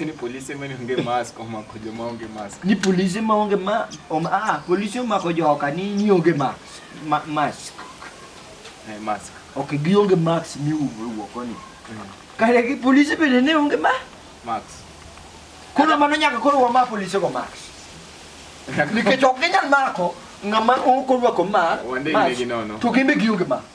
Ni polise ma onge mask omako joma onge mask. Ni polise ma onge ma om ah polise omako joka ni ni onge mask. Ma, mask. Eh, mask. Okay, gi onge mask mi wuok koni. Mm. Kare gi polise bende ne onge ma mask. Koro mano nyaka koro wa ma polise go mask. Nikech ok ginyal mako ng'ama ok orwako mask. Wande gi nono. To gimbe gi onge mask.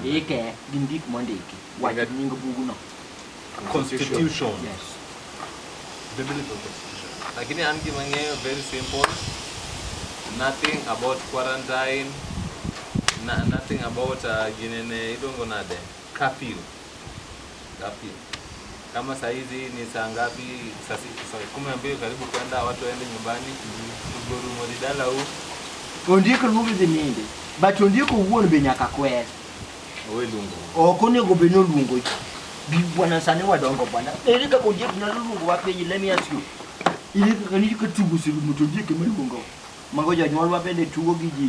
Ndike gi ndik mondiki wach nying bugno. Constitution. Yes. Biblical constitution. Lakini an gima ng'eyo very simple. Nothing about quarantine. Na, nothing about uh, ginene iluongo nade? Curfew. Curfew. Kama saa hizi ni saa ngapi? Saa si- saa kumi na mbili karibu kwenda, watu waende nyumbani. Tuguru moridala huu. Ondiko luongo dhi ninde. But ondiko wuon be nyaka kwer. Owe lungu. Ok onego bed ni oluongo ji. Bi bwana sani wadongo bwana. Ere kaka ondiek nyalo luongo wa piny let me ask you. Ere kaka ni ka tugo sirumo to ondiek ema luongo. Mago jonyuolwa bende tugo gi ji.